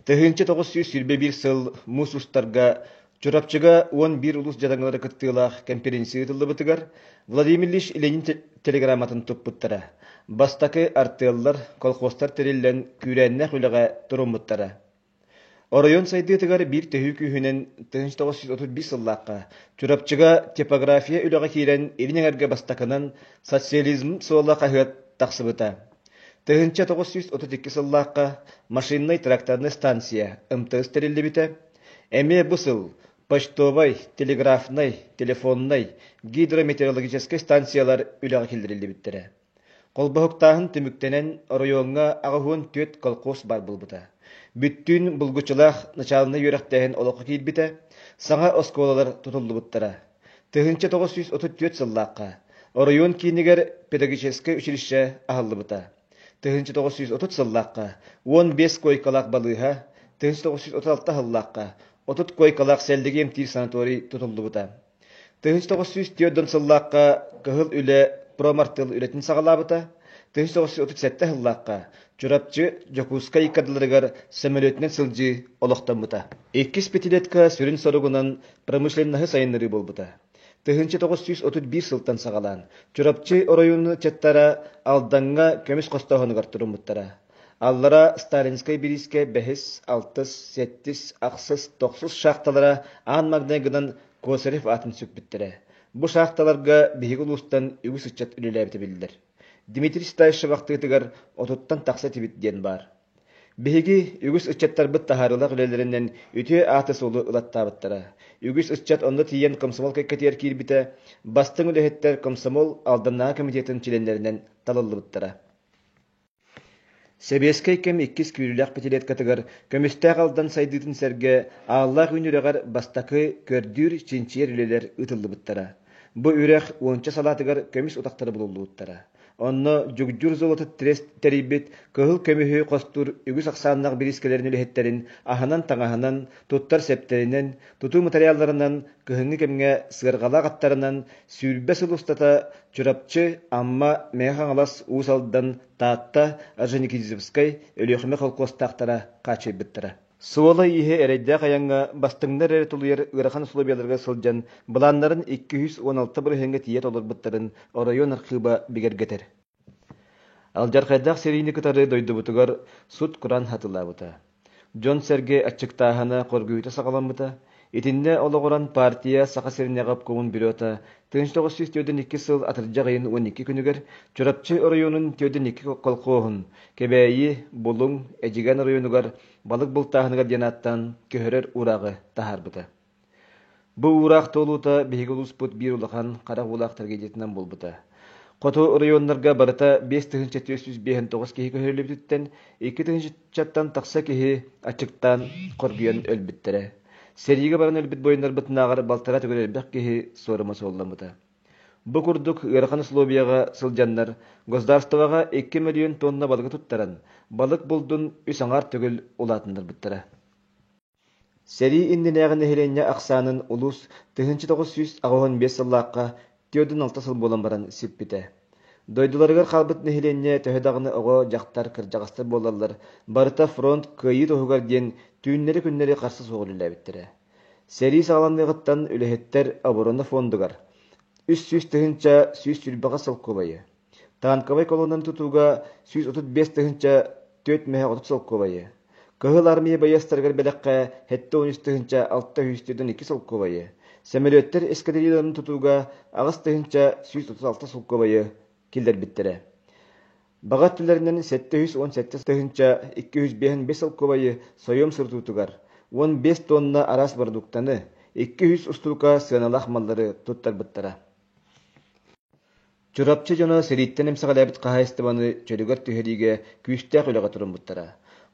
Тыһыынча тоҕус сүүс сүүрбэ биир сыл муус устарга Чурапчыга уон биир улус дьадаҥылара кыттыылаах кэмпириэнсийэ ыытыллыбытыгар Владимир Ильич Ленин телеграмматын туппуттара. Бастакы артыаллар, колхозтар тэриллэн, күүрээннээх үлэҕэ туруммуттара. Оройуон сайдыытыгар биир төһүү күүһүнэн тыһыынча тоҕус сүүс отут биис сыллаахха Чурапчыга типография үлэҕэ киирэн илин эҥэргэ бастакынан социализм суола хаһыат тахсыбыта. Тыһыынча тоҕус сүүс отут икки сыллаахха машиннай тракторнай станция МТС тэриллибитэ. Эмиэ бу сыл почтовай, телеграфнай, телефоннай, гидрометеорологическай станциялар үлэҕэ киллэриллибиттэрэ. Холбоһуктааһын түмүктэнэн, оройуоҥҥа аҕыс уон түөрт колхоз баар буолбута. Бүттүүн булгуччулаах начаалынай үөрэхтээһин олоххо киирбитэ, саҥа оскуолалар тутуллубуттара. Тыһыынча тоҕус сүүс отут түөрт сыллаахха оройуон киинигэр педагогическай училище аһыллыбыта. Тыһыынча тоҕус сүүс отут сыллаахха уон биэс куойкалаах балыыһа, тыһыынча тоҕус сүүс отут алта сыллаахха отут куойкалаах сэллиги эмтиир санаторий тутуллубута. Тыһыс тоҕус сүүс түөрт сыллаахха кыһыл үлэ промартыл үлэтин саҕалаабыта, тыһыс тоҕус сүүс отут сэттэ сыллаахха Чурапчы Дьокуускай кадрларыгар сөмөлүөтүнэн сылдьыы олохтоммута. Иккис пятилетка сүрүн соругунан промышленноһы сайыннарыы буолбута. Тыһыынча тоҕус сүүс отут биир сылтан саҕалаан Чурапчы оройуонун чаттара Алдаҥҥа көмүс хостооһунугар туруммуттара. Аллараа сталинскай бириискэ бэһис, алтыс, сэттис, ахсыс, тохсус шахталара аан маҥнайгынан Косарев аатын сүкпүттэрэ. Бу шахталарга биһиги улуустан үгүс ыччат үлэлээбитэ биллэр. Дмитрий Стаишев ахтыытыгар отуттан тахса этибит диэн баар. Биһиги үгүс ыччаттарбыт таһаарыылаах үлэлэринэн үтүө ааты-суолу ылаттаабыттара. Үгүс ыччат онно тиийэн комсомол кэккэтигэр киирбитэ, бастыҥ үлэһиттэр комсомол Алданнааҕы комитетин чилиэннэринэн талыллыбыттара. Сэбиэскэй кэм иккис күүлүлээх пятилеткатыгар көмүстээх Алдан сайдыытын сэргэ Ааллаах үүн үрэҕэр бастакы көрдүүр-чинчийэр үлэлэр ыытыллыбыттара. Бу үрэх уонча салаатыгар көмүс утахтары булуллубуттара. Онно Дьугдьур золото трест тэрийбит кыһыл көмүһү хостуур үгүс ахсааннаах бириискэлэрин үлэһиттэрин аһынан-таҥаһынан, туттар сэптэринэн, тутуу матырыйаалларынан кыһыҥҥы кэмҥэ сыарҕалаах аттарынан сүүрбэ сыл устата Чурапчы, Амма, Мэҥэ Хаҥалас, Уус Алдан, Таатта, Орджоникидзевскай, Өлүөхүмэ холкуостаахтара хааччыйбыттара. Суола-ииһэ эрэйдээх айаҥҥа бастыҥнар эрэ тулуйар ыарахан усулуобуйаларга сылдьан былааннарын икки үс уон алта бырыһыаҥҥа тиийэ толорбуттарын оройуон архыыба бигэргэтэр. Алдьархайдаах сэриини кытары дойдубутугар сут-куран хатылаабыта, дьон-сэргэ аччыктааһына хоргуйуута саҕаламмыта, итиннэ олоҕуран партия Саха сиринээҕи обкомун бюрото тыһыынча тоҕус сүүс түөртүн икки сыл атырдьах ыйын уон икки күнүгэр Чурапчы оройуонун түөртүн икки колхоһун Кэбээйи, Булуҥ, Эдьигээн оройуонугар Балык Бултааһыныгар диэн ааттаан көһөрөр урааҕы таһаарбыта. Бу уураах туолуута биһиги улууспут биир улахан харах уулаах трагедиятынан буолбута. Хоту оройуоннарга барыта биэс тыһыынча түөрт сүүс биэһэн тоҕус киһи көһөрүллүбүтүттэн икки тыһыынчаттан тахса киһи аччыктаан, хоргуйан өлбүттэрэ. Сэриигэ баран өлбүт буойуннарбытынааҕар балтараа төгүл элбэх киһи суорума суолламмыта. Бу курдук ыарахан условияҕа сылдьаннар государствоҕа икки мөлүйүөн туонна балыгы туттаран, балык булдун үс аҥаар төгүл улаатыннарбыттара. Сэрии иннинээҕи нэһилиэнньэ ахсаанын улуус тыһыынча тоҕус сүүс аҕыһын биэс сыллаахха түөртүн алта сыл буолан баран сүппүтэ. Дойдуларыгар хаалбыт нэһилиэнньэ төһө даҕаны оҕо, дьахтар, кырдьаҕастар буолаллар, барыта фронт кыайыы туһугар диэн түүннэри-күннэри харса суох үлэлээбиттэрэ. Сэрии саҕаланыаҕыттан үлэһиттэр оборона фондугар үс сүүс тыһыынча сүүс сүүрбэҕэ солкуобайы, Танковай колоннаны тутууга сүүс отут биэс тыһыынча түөрт мэһэ отут солкуобайы, Кыһыл Армия байыастарыгар бэлэххэ сэттэ уон үс тыһыынча алта сүүс түөртүн икки солкуобайы, Сөмөлүөттэр эскадрильяларын тутууга аҕыс тыһыынча сүүс отут алта солкуобайы киллэрбиттэрэ. Баҕа өттүлэринэн сэттэ үс уон сэттэ тыһыынча икки үс биэһин биэс солкуобайы союм сурутуутугар уон биэс туонна араас барадууктаны, икки үс устуука сыаналаах маллары туттарбыттара. Чурапчы дьоно сэрииттэн эмсэҕэлээбит хаһаайыстыбаны чөлүгэр түһэриигэ күүстээх үлэҕэ туруммуттара.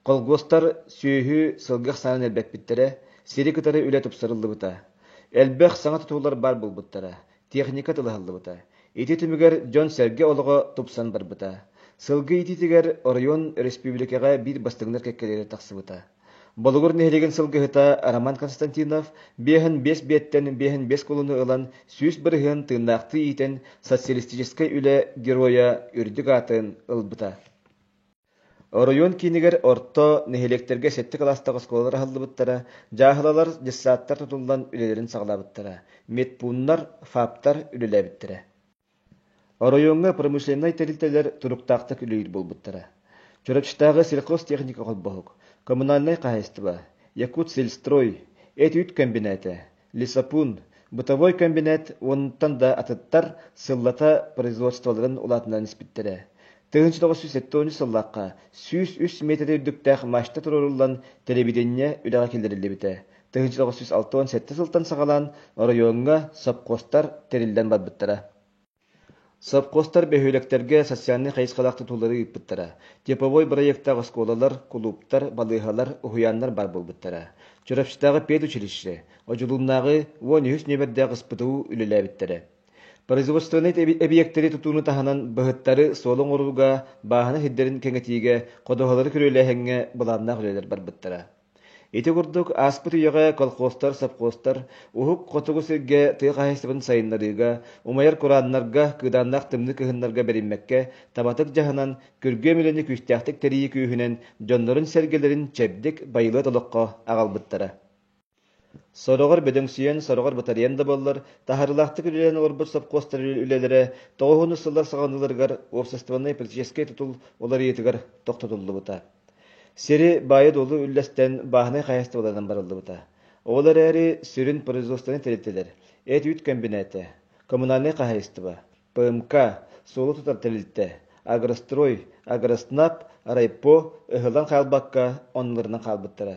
Холкуостар сүөһү, сылгы ахсаанын элбэппиттэрэ, сири кытары үлэ тупсарыллыбыта. Элбэх саҥа тутуулар баар буолбуттара, техника тылаһыллыбыта. Ити түмүгэр дьон-сэргэ олоҕо тупсан барбыта. Сылгы иитиитигэр оройуон, өрөспүүбүлүкэҕэ биир бастыҥнар кэккэлэрэ тахсыбыта. Болугур нэһилиэгин сылгыһыта Роман Константинов биэһин биэс биэттэн биэһин биэс кулуну ылан сүүс бырыһыан тыыннаахтыы иитэн социалистическай үлэ геройа үрдүк аатын ылбыта. Оройуон киинигэр орто нэһилиэктэргэ сэттэ кылаастаах оскуолалар аһыллыбыттара, дьааһылалар, детсадтар тутуллан үлэлэрин саҕалаабыттара, медпууннар, ФАПтар үлэлээбиттэрэ. Оройуоҥҥа промышленнай тэрилтэлэр туруктаахтык үлэлиир буолбуттара. Чурапчытааҕы сельхозтехника холбоһук, коммунальнай хаһаайыстыба, Якутсельстрой, эт-үүт кэмбинээтэ, лесопун, бытовой кэмбинээт уонунтан да атыттар сыллата производстволарын улаатынан испиттэрэ. тыһыынча тоҕус сүүс сэттэ уонча сыллаахха сүүс үс метрэ үрдүктээх мачта туруоруллан, телевидение үлэҕэ киллэриллибитэ. тыһыынча тоҕус сүүс алта уон сэттэ сылтан саҕалаан оройуоҥҥа сопхуостар тэриллэн барбыттара. Сопхуостар бөһүөлэктэргэ социальнай хайысхалаах тутуулары ыыппыттара, типовой бырайыактаах оскуолалар, кулууптар, балыыһалар, уһуйааннар баар буолбуттара. Чурапчытааҕы педучилище, Одьулууннааҕы уон үһүс нүөмэрдээх СПТУ үлэлээбиттэрэ. Производственнай эбийиэктэри тутууну таһынан быһыттары суол оҥорууга, бааһынай сирдэрин кэҥэтиигэ, ходоһолору күрүөлээһиҥҥэ былааннаах үлэлэр барбыттара. Ити курдук ааспыт үйэҕэ колхозтар, совхозтар Уһук Хотугу сиргэ тыа хаһаайыстыбатын сайыннарыыга, умайар курааннарга, кыыдааннаах тымныы кыһыннарга бэриммэккэ табатык дьаһанан, күргүөм үлэни күүстээхтик тэрийии күүһүнэн дьоннорун-сэргэлэрин чэбдик, байылыат олоххо аҕалбыттара. Сороҕор бөдөҥсүйэн, сороҕор батарыйан да буоллар, таһарылаахтык үлэлээн олорбут совхозтар үлэлэрэ тоҕус уонус сыллар саҕаланыыларыгар уопсастыбаннай политическай тутул уларыйыытыгар тохтотуллубута. Сири баайа-дуолу үллэстэн бааһынай хаһаайыстыбаларынан барыллыбыта. Ол эрээри сүрүн производствоны тэрилтэлэр – эт-үүт комбината, коммунальнай хаһаайыстыба, ПМК, суолу тутар тэрилтэ, Агрострой, Агроснаб, райпо ыһыллан хаалбакка, оннуларынан хаалбыттара.